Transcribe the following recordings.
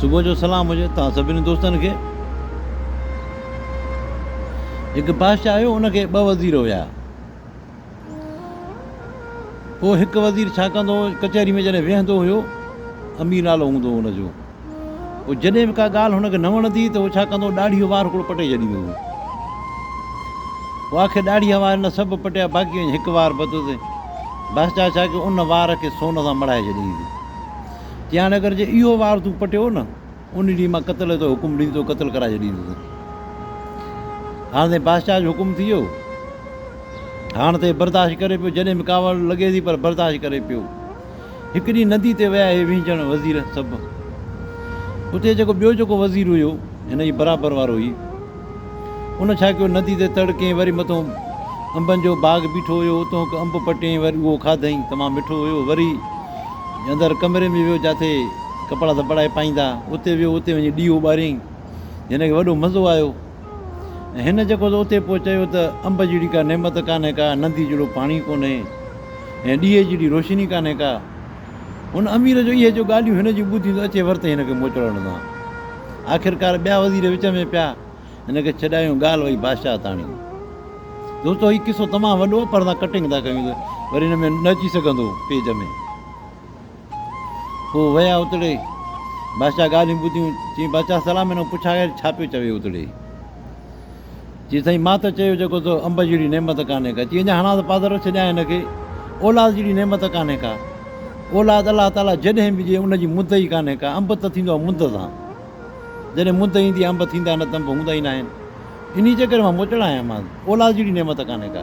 صبح جو سلام هجي توهان سڀني دوستن کي. هڪ بادشاهه هيو ان کي ٻه وزير هيا. پوء هڪ وزير ڇا ڪندو هو ڪچهري ۾ جڏهن ويهندو هيو امير نالو هوندو هو ان جو پوء جڏهن به ڪا ڳالهه هن کي نه وڻندي ته هو ڇا ڪندو هو ڏاڙهيء جو وار هڪڙو پٽي ڇڏيندو هو. پوء آخر ڏاڙهيء وار نه سڀ پٽيا باقي وڃي هڪ وار بتو تي بادشاهه ڇا ڪيو ان وار کي سون سان مڙهائي ڇڏيائينس. جيان اگر جي اهو وار تون پٽيو نه، ان ڏينهن مان قتل جو حڪم ڏيندي تو قتل ڪرائي ڇڏيندس. هاڻ تائين بادشاهه جو حڪم ٿي ويو. هاڻ تائين برداشت ڪري پيو، جڏهن به ڪاوڙ لڳي ٿي پر برداشت ڪري پيو. هڪ ڏينهن ندي تي ويا هي وهنجڻ وزير سڀ. اتي جيڪو ٻيو جيڪو وزير هيو، هن جي برابر وارو هي. ان ڇا ڪيو، ندي تي تڙ ڪيئين، وري مٿون انبن جو باغ بيٺو هيو، اتون هڪ انب پٽيئين، وري اهو کاڌئين، تمام مٺو هيو، وري اندر ڪمري ۾ ويو، جاٿي ڪپڙا ڌپڙائي پائيندا، اتي ويو، اتي وڃي ڏيئو ٻاريئين، هن کي وڏو مزو آيو ۽ هن جيڪو ته اتي پوء چيو ته انب جهڙي ڪا نعمت ڪانهي ڪا، ندي جهڙو پاڻي ڪونهي ۽ ڏيئي جهڙي روشني ڪانهي ڪا. هن امير جو اهي جو ڳالهيون هن جون ٻڌيون ته اچي ورتئي هن کي موچڙو نه سان. آخرڪار ٻيا وزير وچ ۾ پيا هن کي ڇڏايون ڳالهه وئي بادشاهه تاڻي. دوستو هي قصو تمام وڏو آهي پر اسان ڪٽنگ ٿا ڪيون ته وري هن ۾ نه اچي سگهندو پيج ۾. پوء ويا اتڙي بادشاهه ڳالهيون ٻڌيون چيائين بادشاهه سلام هن کان پڇا آخر ڇا پيو چوي اتڙي. چي سائين مان ته چيو جيڪو تو انب جهڙي نعمت ڪانهي ڪا. چي اڃا هڻان ته پادرو ڇڏيان هن کي. اولاد جهڙي نعمت ڪانهي ڪا. اولاد الله تعاليٰ جڏهن به ڏئي ان جي مد ئي ڪانهي ڪا. انب ته ٿيندو آهي مد سان. جڏهن مد ايندي آهي انب ٿيندا نه ته انب هوندا ئي ناهن. انهيء چڪر مان موچڙا آهيان مان. اولاد جهڙي نعمت ڪانهي ڪا.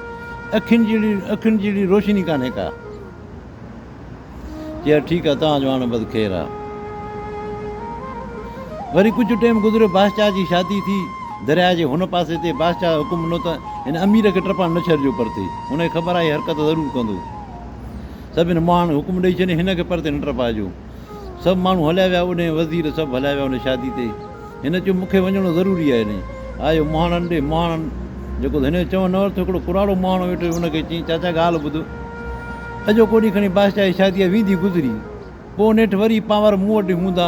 اکين جهڙي اکين جهڙي روشني ڪانهي ڪا. چيا ٺيڪ آ توهان جو هاڻ بس خير آ. وري ڪجهه ٽيم گذريو باشچاهه جي شادي ٿي درياء جي هن پاسي تي باشچاهه حڪم ڏنو ته هن امير کي ٽپڻ نه ڇڏجو پرتي هن کي خبر آ هي حرڪت ضرور ڪندو سڀن مهاڻن حڪم ڏئي ڇڏيائين هن کي پرتي نه ٽپائجو. سڀ ماڻهو هليا ويا اڏهين وزير سڀ هليا ويا انهي شادي تي هن چيو مون کي وڃڻو ضروري آهي انهي آيو مهاڻن ڏي مهاڻن جيڪو هن جو چوڻ نه ورتو هڪڙو پراڻو مهاڻو ويٺو هو ان کي چيائين چاچا ڳالهه ٻڌ اڄوڪو ڏينهن کڻي بادشاهه جي شادي آهي ويندي گذري پوء نيٺ وري پانور مون وٽ هوندا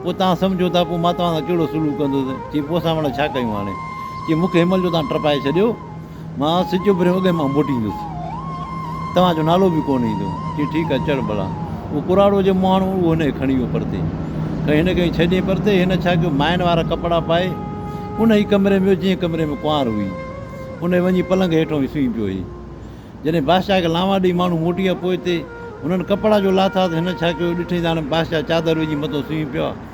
پوء توهان سمجهو ٿا پوء مان توهان سان ڪهڙو سلوڪ ڪندس چيائين پوء اسان پڻ ڇا ڪيون هاڻي چيائين مون کي هن مهل جو توهان ٽپائي ڇڏيو مان سج اڀرڻ اڳ مان موٽي ايندس، توهان جو نالو به ڪونه ايندو. چيائين، ٺيڪ آهي، چڙهه ڀلا. اهو ڪراڙو جي مهاڻو هو، اهو هن کي کڻي ويو پرتي. ڪنهن هن کي ڇڏيائين پرتي. هن ڇا ڪيو، مائن وارا ڪپڙا پائي، ان ئي ڪمري ۾ ويو، جنهن ڪمري ۾ ڪنوار هئي. ان ئي وڃي پلنگ هيٺ وڃي سمهي پيو هي. جڏهن بادشاهه کي لانوا ڏئي ماڻهو موٽي ويا، پوئتي هنن ڪپڙا جو لاٿا ته هن ڇا ڪيو، ڏٺائين ته هاڻي بادشاهه چادر وجهي مٿو سمهي پيو آهي.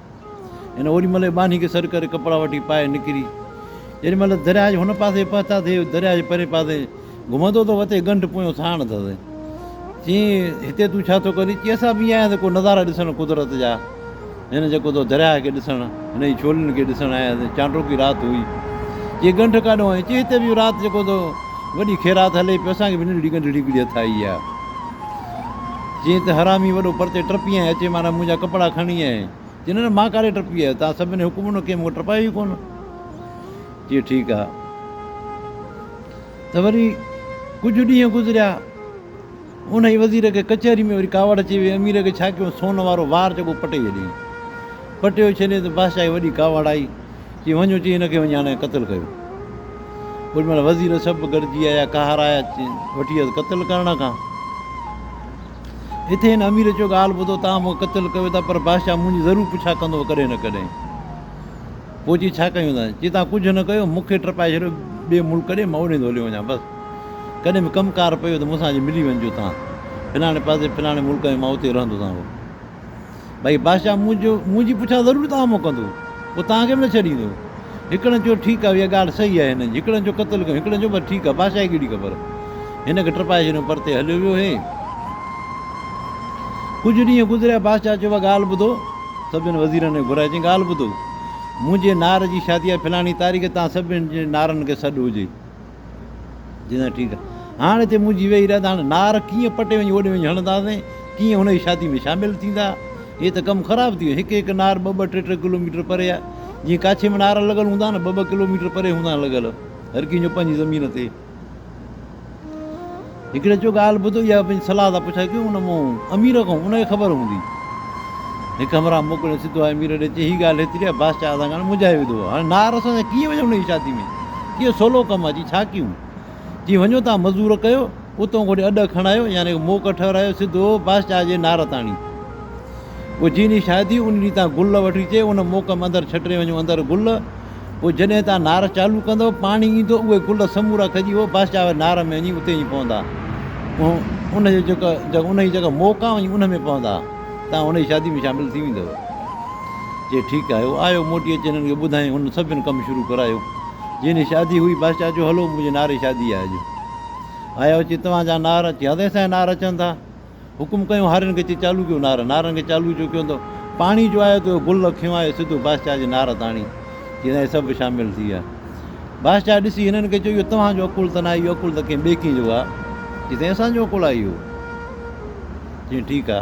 هن اوڏي مهل ٻانهي کي سڏ ڪري ڪپڙا وٺي پائي نڪري. جيڏي مهل درياء جي هن پاسي پهتاسي، درياء جي پرين پاسي گهمندو ته وتي ڳنڍ پويون ساڻ اٿس. چيائين، هتي تون ڇا ٿو ڪرين؟ چيائين، اسان به ايئن آيا آهيون ته ڪو نظارا ڏسڻ قدرت جا. هن جيڪو اٿو درياء کي ڏسڻ، هن جي ڇولين کي ڏسڻ آيا آهيون. چانڊوڪي رات هئي. چيائين، ڳنڍ ڪاڏو آئين؟ چيائين، هتي به اهو رات جيڪو اٿو وڏي خيرات هلي پيو، اسان کي به ننڍڙي ڳنڍڙي هڪڙي هٿ آئي آهي. جيئن ته حرامي وڏو پرتي ٽپين ۽ اچي مارا منهنجا ڪپڙا کڻي ۽ چين نه مان ڪاڏي ٽپي آيو توهان سڀني حڪم نه ڪيم مون ٽپايو ئي ڪونه چي ٺيڪ آ ته وري ڪجهه ڏينهن گذريا ان ئي وزير کي ڪچهري ۾ وري ڪاوڙ اچي وئي امير کي ڇا ڪيو سون وارو وار جيڪو پٽي ڇڏيائين پٽيو ڇڏيائين ته بادشاهه کي وڏي ڪاوڙ آئي چي وڃ اچي هن کي وڃي هڻي قتل ڪيو. اوڏ مهل وزير سڀ گڏجي آيا قهر آيا وٺي ويس قتل ڪرڻ کان اٿي هن امير چيو ڳالهه ٻڌو توهان مون کي قتل ڪيو ٿا پر بادشاهه منهنجي ضرور پڇا ڪندو ڪڏهن نه ڪڏهن پوء چي ڇا ڪيون ٿا چي توهان ڪجهه نه ڪيو مون کي ٽپائي ڇڏيو ٻئي ملڪ ڏي مان اوڏي هليو وڃان بس ڪڏهن به ڪم ڪار پيو ته مون سان اچي ملي وڃجو توهان فلاڻي پاسي فلاڻي ملڪ ۾ مان اتي رهندو سان ڀائي بادشاهه منهنجو منهنجي پڇا ضرور توهان مون ڪندو پوء توهان کي به نه ڇڏيندو هڪڙن چيو ٺيڪ آهي اها ڳالهه صحيح آهي هنن جي هڪڙن چيو قتل ڪيون هڪڙن چيو بس ٺيڪ آهي بادشاهه کي ڪهڙي خبر هن کي ٽپائي ڇڏيو پرتي هليو ويو هي ڪجهه ڏينهن گذريا بادشاهه چيو ڳالهه ٻڌو سڀني وزيرن کي گهرائي چي ڳالهه ٻڌو منهنجي نار جي شادي آهي فلاڻي تاريخ تان سڀني جي نارن کي سڏ هجي جي سائين ٺيڪ آ هاڻ هتي منهنجي ويهي رهه ته هاڻ نار ڪيئن پٽي وڃي اوڏي وڃي هڻنداسين ڪيئن هن جي شادي ۾ شامل ٿيندا هي ته ڪم خراب ٿي ويو هڪ هڪ نار ٻه ٻه ٽي ٽي ڪلو ميٽر پري آ جيئن ڪاڇي ۾ نار لڳل هوندا نه ٻه ٻه ڪلو ميٽر پري هوندا لڳل هر ڪنهن جو پنهنجي زمين تي هڪڙي چيو ڳالهه ٻڌ اها پنهنجي صلاح سان پڇائي ڪيون ان مون امير کان ان کي خبر هوندي هڪ همراهه موڪليو سڌو آيو امير ڏي چي هي ڳالهه ايتري آهي بادشاهه ادا کان منجهائي وڌو آهي هاڻي نار اسان سان ڪيئن وڃون ان جي شادي ۾ ڪيئن سولو ڪم آهي چي ڇا ڪيون چي وڃو تان مزور ڪيو اتون گهڙي اڏ کڻايو يعني موقعو ٺهرايو سڌو بادشاهه جي نار تاڻي پوء جي ڏينهن شادي ان ڏينهن تان گل وٺي چي ان موقعي ۾ اندر ڇٽري وڃو اندر گل پوء جڏهن توهان نار چالو ڪندؤ، پاڻي ايندو، اهي گل سمورا کڄي هو بس جا اهي نار ۾ وڃي اتي ئي پوندا. ان جي جيڪا ان جي جيڪا موڪ آ وڃي ان ۾ پوندا. توهان ان جي شادي ۾ شامل ٿي ويندؤ. چي ٺيڪ آهي. هو آيو موٽي اچي هنن کي ٻڌائين. هنن سڀني ڪم شروع ڪرايو. جنهن جي شادي هئي بس چا چيو هلو منهنجي نار جي شادي آهي اڄ. آيا اچي توهان جا نار اچي هاضي سائين نار اچن ٿا. حڪم ڪيون هارين کي چي چالو ڪيو نار. نارن کي چالو جو ڪيون ته پاڻي جو آيو ته گل اکيون آيو سڌو بادشاهه جي نار تاڻي. چيائين هي سڀ شامل ٿي ويا. بادشاهه ڏسي هنن کي چيو اهو توهان جو عقل ته ناهي اهو عقل ته ڪنهن ٻئي ڪنهن جو آ. چي سائين اسان جو عقل آ اهو. چيائين ٺيڪ آ.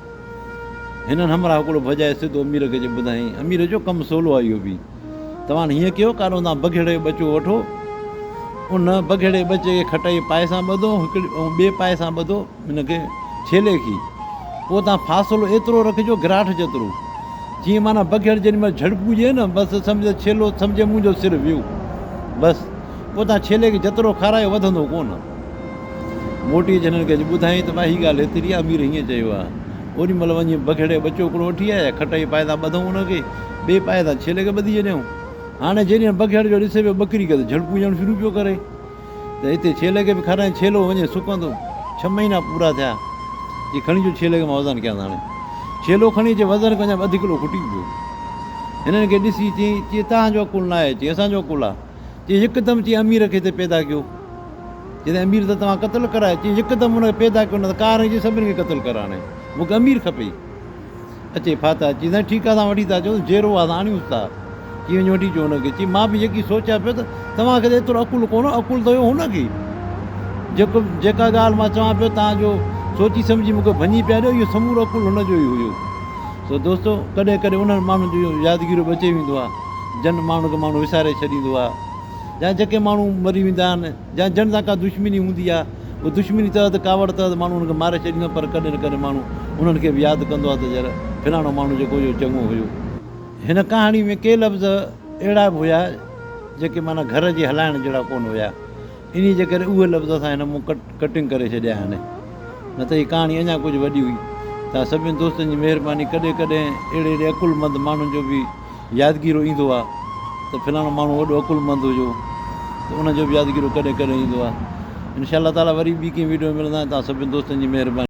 هنن همراهه ڪوڙو ڀڄائي سڌو امير کي اچي ٻڌايائين. امير چيو، ڪم سولو آهي اهو به. توهان هيئن ڪيو، ڪاڏون تان بگهڙي جو ٻچو وٺو. ان بگهڙي ٻچي کي کٽائي پائي سان ٻڌو ۽ ٻئي پائي سان ٻڌو ان کي ڇيلي کي. پوء تان فاصلو ايترو رکجو گراٺ جيترو. جيئن معنيٰ بگهڙ جيڏي مهل جهڙڪون ڏئي نه بس سمجهه ته ڇيلو سمجهي منهنجو سر ويو. بس. پوء تان ڇيلي کي جترو کارايو وڌندو ڪونه. موٽي اچي هنن کي اچي ٻڌائين ته ڀائي هي ڳالهه هيتري آهي امير هيئن چيو آهي اوڏي مهل وڃي بگهڙي ٻچو هڪڙو وٺي آيا کٽائي پائي تان ٻڌئون هن کي ٻئي پائي تان ڇيلي کي ٻڌي ڇڏيائون هاڻي جيڏينهن بگهڙ جو ڏسي پيو ٻڪري کي ته جهڙڪون ڏيڻ شروع پيو ڪري ته هتي ڇيلي کي به کارائين ڇيلو وڃي سڪندو ڇهه مهينا پورا ٿيا جي کڻي جو ڇيلي کي مان وزن ڪيان هاڻي ڇيلو کڻي اچي وزن ڪيان اڌ ڪلو کٽي پيو هنن کي ڏسي چي چي تهانجو عقل ناهي چي اسانجو عقل آهي چي يڪدم چي امير کي ھتي پيدا ڪيو جڏھن امير ته توھان قتل ڪرايو چي يڪدم ان کي پيدا ڪيو نه ته ڪار ھجي سڀني کي قتل ڪراڻي مون کي امير کپي اچي ڦاتا چي سائين ٺيڪ آ اسان وٺي ٿا اچو جيرو آ آڻيوس ٿا چي وڃ وٺي اچو ھن کي چي مان به يڪي سوچيا پيو ته توھان کي ته ايترو عقل ڪونه عقل ته ھيو ھن کي جيڪو جيڪا ڳالھ مان چوان پيو توھان جو سوچي سمجھي مون کي ڀڃي پيا ڏيو اھو سمورو عقل ھن جو ئي ھيو سو دوستو ڪڏھن ڪڏھن انھن ماڻھن جو يادگيرو به اچي ويندو آ جن ماڻهن کي ماڻهو وساري ڇڏيندو آهي يا جيڪي ماڻهو مري ويندا آهن يا جن سان ڪا دشمني هوندي آهي اهو دشمني تحت ڪاوڙ تحت ماڻهو انهن کي ماري ڇڏيندو آهي پر ڪڏهن نه ڪڏهن ماڻهو انهن کي به ياد ڪندو آهي ته يار فلاڻو ماڻهو جيڪو هيو چڱو هيو. هن ڪهاڻي ۾ ڪي لفظ اهڙا به هيا جيڪي معنيٰ گهر جي هلائڻ جهڙا ڪونه هيا. انهيء جي ڪري اهي لفظ اسان هن مون ڪٽنگ ڪري ڇڏيا آهن، نه ته هي ڪهاڻي اڃا ڪجهه وڏي هئي. توهان سڀني دوستن جي مهرباني، ڪڏهن ڪڏهن اهڙي اهڙي عقلمند ماڻهن جو به يادگيرو ايندو آهي ته فلاڻو ماڻهو وڏو عقلمند هجو ته ان جو به يادگيرو ڪڏهن ڪڏهن ايندو آهي. انشاء الله تعاليٰ وري ٻي ڪنهن وڊيو ۾ ملنداسين توهان سڀني دوستن جي مهرباني.